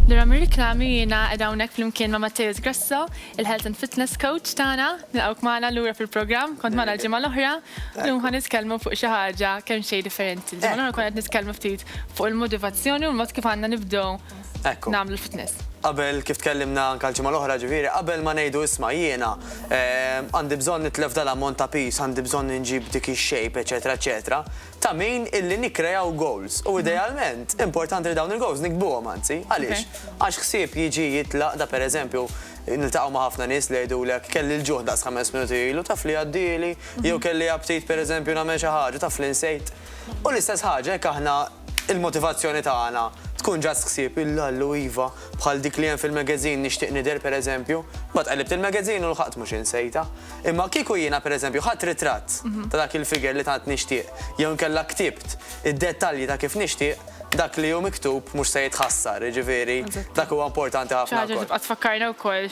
Lura mir-riklami jiena qed hawnhekk flimkien ma' Matteus Grasso, il-Health and Fitness Coach tagħna, nilqgħuk magħna lura fil-programm, kont magħna l-ġimgħa l-oħra, llum ħa nitkellmu fuq xi ħaġa kemm xejn differenti. Ġimgħa l-oħra kont qed nitkellmu ftit fuq il-motivazzjoni u l-mod kif għandna nibdew Ekku. Nagħmlu l-fitness. Qabel kif tkellimna anke l-ġimgħa l-oħra ġifieri, qabel ma ngħidu isma' jiena ehm, għandi bżonn nitlef dal-ammont ta' piż, għandi bżonn inġib dik ix-shape, eċetera, eċetera, ta' min illi nikkrejaw goals. U idealment, importanti li dawn il-goals nikbuhom anzi. Għaliex? Għax ħsieb jiġi jitlaq da pereżempju niltaqgħu ma' ħafna nies li jgħidulek kelli l-ġuħ daqs ħames minuti ilu taf li għaddieli, jew kelli aptit pereżempju nagħmel xi ħaġa taf li nsejt. U l-istess ħaġa jekk aħna l-motivazzjoni tagħna tkun ġast ħsieb il-Allu iva, bħal dik li hemm fil-magazine nixtieq nidher pereżempju, imbagħad qellibt il-magazine u lħaqt mhux insejtha. Imma kieku jiena pereżempju ħadt ritratt ta' dak il-figure li tant nixtieq jew inkella ktibt id-dettalji ta' kif nixtieq, dak li hu miktub mhux se jitħassar, jiġifieri dak huwa importanti ħafna wkoll. Xi ħaġa li tibqa' tfakkarna wkoll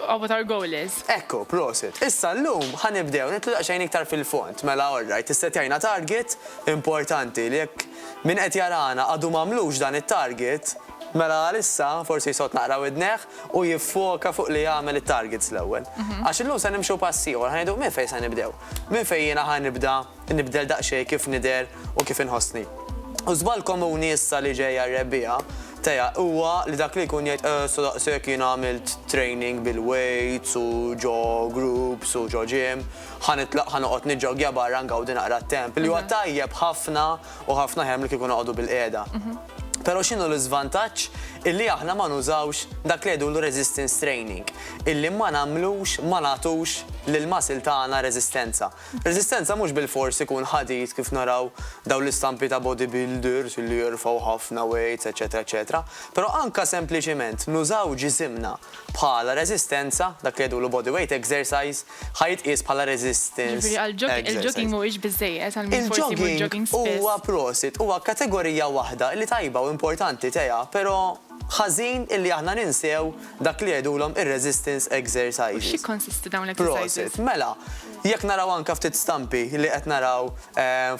of what our goal is. Ekku, prosit. Issa llum ħa nibdew nidħlu daqsxejn iktar fil-fond. Mela alright, issettjajna target importanti li jekk min qed jarana għadu m'għamlux dan it-target, mela għalissa forsi jsott naqra widnejh u jiffoka fuq li jagħmel it-targets l-ewwel. Għax illum se nimxu pass ieħor, ħa ngħidu minn fejn se nibdew? Minn fejn jiena ħa nibda? Nibdel daqsxejn kif nidher u kif inħossni. U żball komuni issa li ġejja r-rebbiegħa teja huwa li dak li jkun jgħid eh sa daqshekk jiena għamilt training bil-weights u ġo groups u ġo gym, ħa nitlaq ħa noqgħod niġġoggja barra ngawdi naqra t-temp li huwa tajjeb ħafna u ħafna aħjar milli kieku noqogħdu bil-qiegħda. Però x'inhu l-iżvantaġġ illi aħna ma nużawx dak li jgħidulu resistance training, illi ma nagħmlux ma nagħtux lill-muscle tagħna reżistenza. Reżistenza mhux bilfors ikun ħadid kif naraw dawn l-istampi ta' bodybuilders li jerfgħu ħafna weights eċċetera eċċetera, però anke sempliċiment nużaw ġisimna bħala reżistenza, dak li jgħidulu body weight exercise, ħa jitqies bħala resistance exercise. Jiġifieri għall-jogging mhuwiex biżżejjed għal min forsi jmur jogging spiss. Il-jogging huwa prosit, huwa kategorija waħda li tajba u importanti Tea, però Ħażin illi aħna ninsew dak li jgħidulhom ir-resistance exercises. U x'jikkonsistu dawn l-exercises? Prosit. Mela, jekk naraw anke ftit stampi li qed naraw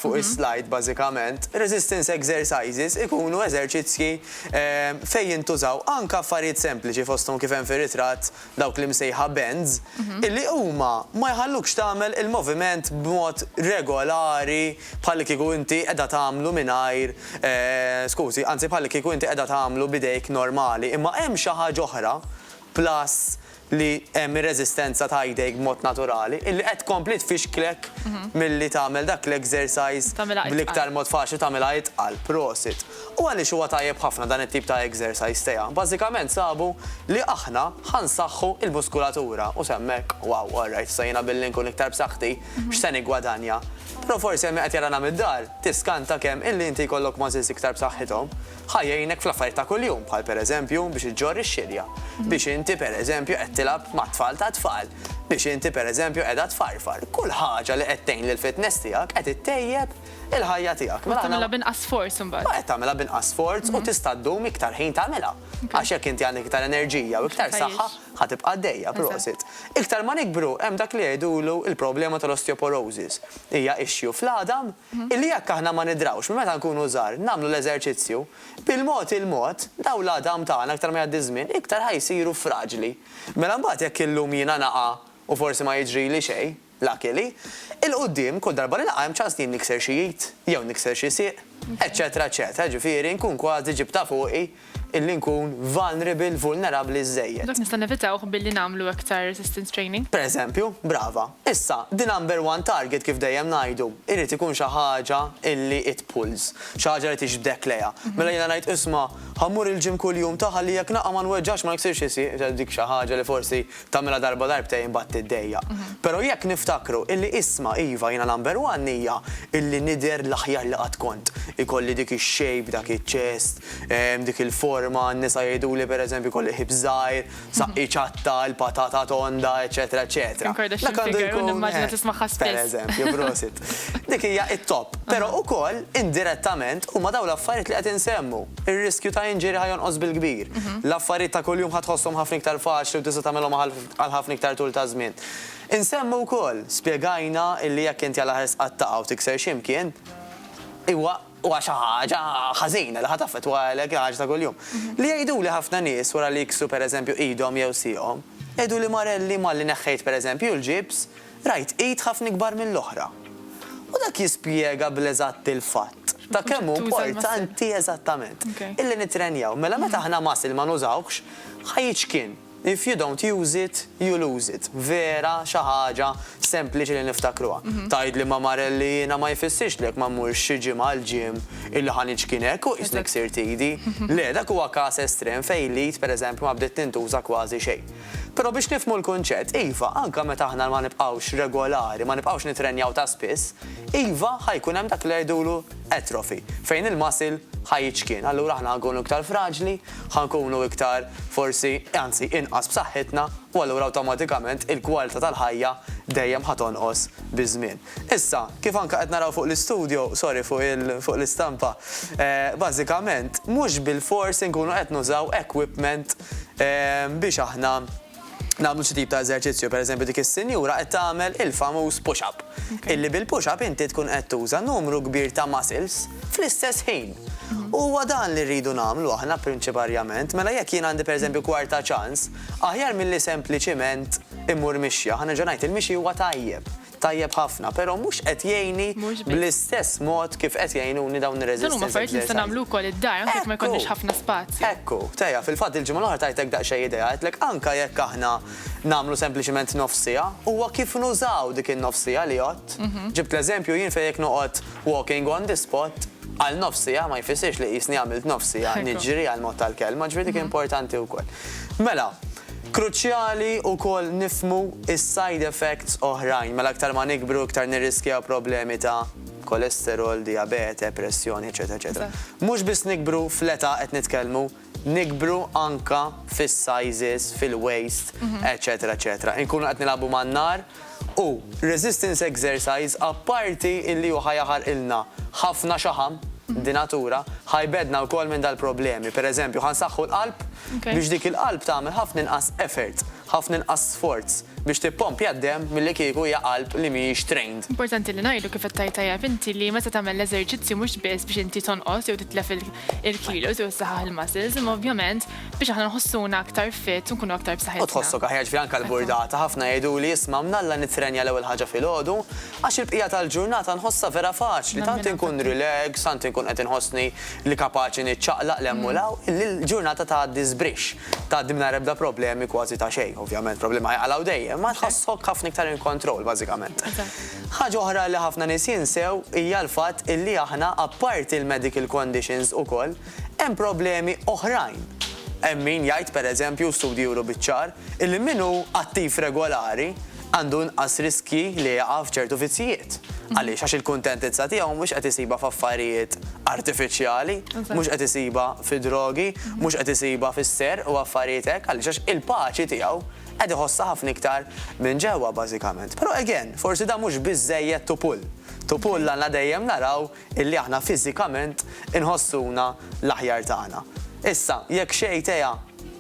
fuq is-slide bażikament, resistance exercises ikunu eżerċizzji fejn jintużaw anke affarijiet sempliċi fosthom kif hemm fir-ritratt, dawk l-imsejħa bends, illi huma ma jħallukx tagħmel il-moviment b'mod regolari bħallikieku inti qiegħda tagħmlu mingħajr, skużi, anzi bħallikieku inti qiegħda tagħmlu b'idejk normali. Imma hemm xi ħaġa oħra, plus li hemm ir-reżistenza ta' jdejk b'mod naturali, illi qed tkompli tfixklek milli tagħmel dak l-exercise bl-iktar mod faċli u tagħmilha itqal. Prosit. U għaliex huwa tajjeb ħafna dan it-tip ta' exercise tiegħ? Bażikament sabu li aħna ħa nsaħħu l-muskulatura u sehem hekk, wow, all right, issa jiena billi nkun iktar b'saħħti, x'se niggwadanja? Però forsi hemm min qed jarana mid-dar, tiskanta kemm illi inti jkollok muscles iktar b'saħħithom ħa jgħinek fl-affarijiet ta' kuljum bħal pereżempju biex iġġorr ix-xilja, biex inti pereżempju qed tilgħab mat-tfal tat-tfal, biex inti pereżempju qiegħda tfarfar. Kull ħaġa li qed tgħin lill-fitness tiegħek qed ittejjeb il-ħajja tiegħek. Mela tagħmilha b'inqas sforz imbagħad. Qed tagħmilha b'inqas sforz u mhm. tista' ddum iktar ħin tagħmilha. Għax jekk inti għandek iktar enerġija u iktar saħħa ħa tibqa' dejja prosit. Iktar ma nikbru hemm dak li jgħidulu il-problema tal-osteoporosis. Hija issue fl-għadam mhm. illi jekk aħna ma nidrawx minn meta nkunu żgħar nagħmlu l-eżerċizzju bil-mod il-mod daw l-għadam tagħna aktar ma jgħaddi żmien iktar ħajsiru fraġli. Mela mbagħad jekk illum jiena naqa' u forsi ma jiġri li xejn, Lucky li, 'il quddiem, kull darba li nilqa' hemm ċans li jien nikser xi id, jew nikser xi sieq, eċċetera eċċetera, jiġifieri nkun kważi ġibtha fuqi illi nkun vulnerable, vulnerabbli, żżejjed. Dak nista' nevitawh billi nagħmlu aktar resistance training? Per eżempju, brava. Issa, the number one target kif dejjem ngħidu, irid ikun xi ħaġa illi it pulls, xi ħaġa li tiġbdek lejha. Mela jiena ngħid, isma', ħa mmur il-gym kuljum ta' ħalli jekk naqa' ma nweġġax, ma niksirx xi sieq, dik xi ħaġa li forsi Tagħmilha darba darbtejn imbagħad tiddejjaq. Però jekk niftakru illi isma' iva jiena number one hija illi nidher l-aħjar li qatt kont. Ikolli dik ix-shape, dak iċ-chest, dik il-forma, n-nisa jgħiduli per eżempju jkolli ħips żgħir, saqqi ċatta, il-patata tonda, eċċetera eċċetera. Dak għandu jkun. Kim Kardashian figure u nimmaġina tismagħha spiss. Per eżempju, prosit. Dik hija t-top. Però ukoll indirettament huma dawn l-affarijiet li qed insemmu. Ir-riskju ta' injury ħa jonqos bil-kbir. L-affarijiet ta' kuljum ħa tħosshom ħafna iktar faċli u tista' tagħmilhom għal ħafna iktar tul ta' żmien. Insemmu wkoll, spjegajna illi jekk inti għal aħer sqattaqha u tikser xi mkien, huwa huwa xi ħaġa ħażina li ħa taffettwalek il-ħaġa ta' kuljum. Li jgħiduli ħafna nies wara li jiksru pereżempju idhom jew sieqhom, jgħiduli Marelli malli neħħejt pereżempju l-ġibs, Rajt id ħafna ikbar mill-oħra. U dak jispjega bl-eżatt il-fatt ta' kemm hu importanti eżattament. Illi nittrenjaw. Mela meta aħna muscle ma nużawhx, ħa jiċkien. If you don't use it, you lose it. Vera xi ħaġa sempliċi li niftakruha. Tgħidli ma Marel li jiena ma jfissirx li jekk ma mmurx xi ġimgħa għall-gym illi ħa niċkien hekk u qisni ksirt idi. Le, dak huwa każ estrem fejn l-id pereżempju ma bdiet tintuża kważi xejn. Però biex nifhmu l-kunċett, iva, anke meta aħna ma nibqgħux regolari, ma nibqgħux nittrenjaw ta' spiss, iva, ħa jkun hemm dak li jgħidulu atrophy, fejn il-muscle ħa jiċkien. Allura aħna ħa nkunu iktar fraġli, ħa nkunu iktar forsi, anzi, inqas b'saħħitna, u allura awtomatikament il-kwalità tal-ħajja dejjem ħa tonqos biż-żmien. Issa, kif anke qed naraw fuq l-istudjo, sorry fuq il, fuq l-istampa, bażikament mhux bilfors inkunu qed nużaw equipment biex aħna nagħmlu xi tip ta' eżerċizzju. Per eżempju dik is-sinjura qed tagħmel il-famuż push up. Illi bil-push up inti tkun qed tuża numru kbir ta' muscles fl-istess ħin. U huwa dan li rridu nagħmlu aħna prinċiparjament. Mela jekk jien għandi per eżempju kwarta ċans, aħjar milli sempliċiment immur mixja, ħa nerġa' ngħid, il-mixi huwa tajjeb. tajjeb ħafna, però mhux qed jgħinni bl-istess mod kif qed jgħinuni dawn ir-resistance exercises. Dan huma affarijiet li nista' nagħmlu wkoll id-dar anke jekk ma jkollniex ħafna spazju. Ekku, Tea, fil-fatt il-ġimgħa l-oħra tajtek daqsxejn idea, għedtlek anke jekk aħna nagħmlu sempliċement nofs siegħa, huwa kif nużaw dik in-nofs siegħa li għodt. Ġibt l-eżempju jien fejn jekk noqgħod walking on the spot għal nofs siegħa ma jfissirx li qisni għamilt nofs siegħa niġri għall-mod tal-kelma, ġifieri dik importanti wkoll. Mela, Kruċjali wkoll nifhmu s-side effects oħrajn, mela aktar ma nikbru iktar nirriskjaw problemi ta' kolesterol, dijabete, pressjoni, eċċetera eċċetera. Mhux biss nikbru fl-età qed nitkellmu, nikbru anke fis-sizes, fil-waist, eċċetera eċċetera. Inkunu qed nilagħbu man-nar U resistance exercise apparti illi hu ħa jaħarqilna ħafna xaħam, di natura, ħa jbeddna wkoll minn dal-problemi. Per eżempju, ħa nsaħħu l-qalb biex dik il-qalb tagħmel ħafna inqas effort, ħafna inqas sforz biex tippompja d-demm milli kieku hija qalb li mhijiex trained. Importanti li ngħidu, kif qed tgħid tajjeb inti, li meta tagħmel l-eżerċizzju mhux biss biex inti tonqos jew titlef il-kilos jew issaħħaħ il-muscles, imma ovvjament biex aħna nħossuna aktar fit u nkunu aktar b'saħħitna. U tħossok aħjar ġifieri anke l-burdata, ħafna jgħiduli isma' mnalla nittrenja l-ewwel ħaġa filgħodu għax il-bqija tal-ġurnata nħossha vera faċli, tant inkun relax, tant inkun qed inħossni li kapaċi niċċaqlaq 'l hemm u 'l hawn, li l-ġurnata tgħaddi żbrixx, tgħaddi mingħajr ebda problemi kważi ta' xejn. Ovvjament problemi ħajqalgħu dejjem, imma tħossok ħafna iktar in control bażikament. Ħaġa oħra li ħafna nies jinsew hija l-fatt illi aħna apparti l-medical conditions ukoll hemm problemi oħrajn. Hemm min jgħid pereżempju u studji juru biċ-ċar illi min hu attiv regolari għandu inqas riskji li jaqa' f'ċertu vizzjijiet. Għaliex? Għax il-kuntentizza tiegħu mhux qed isibha f'affarijiet artifiċjali, mhux qed isibha fid-drogi, mhux qed isibha fis-serq u affarijiet hekk. Għaliex? Għax il-paċi tiegħu Qed iħossha ħafna iktar minn ġewwa bażikament. Però again, forsi dan mhux biżżejjed to pull. To pull għandna dejjem naraw illi aħna fiżikament inħossuna l-aħjar tagħna. Issa, jekk xejn tea,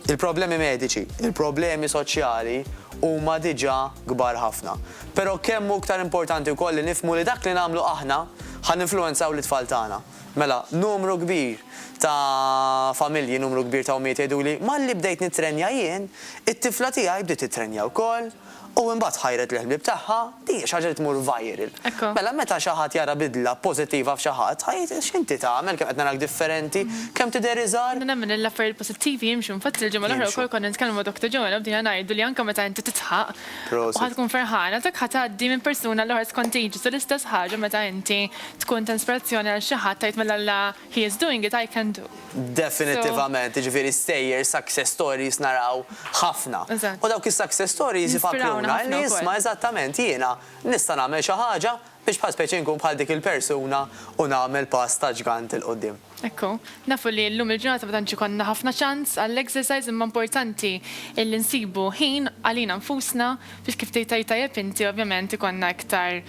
il-problemi mediċi, il-problemi soċjali huma diġà kbar ħafna. Però kemm hu iktar importanti wkoll li nifhmu li dak li nagħmlu aħna ħa ninfluwenzaw lit-tfal tagħna. Mela, numru kbir ta' familji, numru kbir ta' ommijiet jgħiduli, malli bdejt nittrenja jien, it-tifla tiegħi bdiet tittrenja wkoll, u imbagħad ħajret l-ħbieb tagħha, din hija xi ħaġa li tmur viral. Mela, meta xi ħadd jara bidla pożittiva f'xi ħadd, ħa jgħid, x'inti tagħmel, kemm qed narak differenti, kemm tidher iżgħar. Jiena nemmen li l-affarijiet pożittivi jimxu, infatti l-ġimgħa l-oħra wkoll konna nitkellmu ma' Doctor Joanne u bdejna ngħidu li anke meta inti tidħaq u ħa tkun ferħana, dak ħa tgħaddi minn persuna għall-oħra, it's contagious, u l-istess ħaġa meta inti tkun ta' inspirazzjoni għal xi ħadd tgħid mela la he is doing it, I can do. Definittivament, jiġifieri stejjer, success stories naraw ħafna. U dawk is-success stories ifakruna n-nies ma eżattament jiena nista' nagħmel xi ħaġa biex bħal speċi nkun bħal dik il-persuna u nagħmel pass ta' ġgant 'il quddiem. Ekku, nafu li llum il-ġurnata ma tantx ikollna ħafna ċans għall-exercise imma importanti illi nsibu ħin għalina nfusna biex kif tgħid tgħid tajjeb inti ovvjament ikollna iktar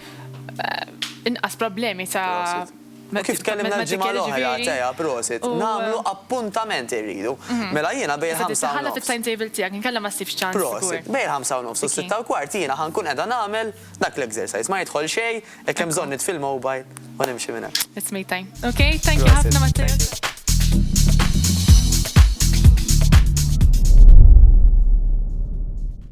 inqas problemi ta' Prosit. U kif tkellimna l-ġimgħa l-oħra, Tea, prosit, nagħmlu appuntament irridu. Mela jiena bejn il-ħamsa u nofs. Iżda trid iħallat it-timetable tiegħek inkella ma ssibx ċans żgur. Prosit. Bejn il-ħamsa u nofs u s-sitta u kwart jiena ħa nkun qiegħda nagħmel. Dak l-exercise ma jidħol xejn, hekk hemm bżonn nitfi l-mobile u nimxi minn hemm. It's me time. Ok, thank you ħafna Matteo.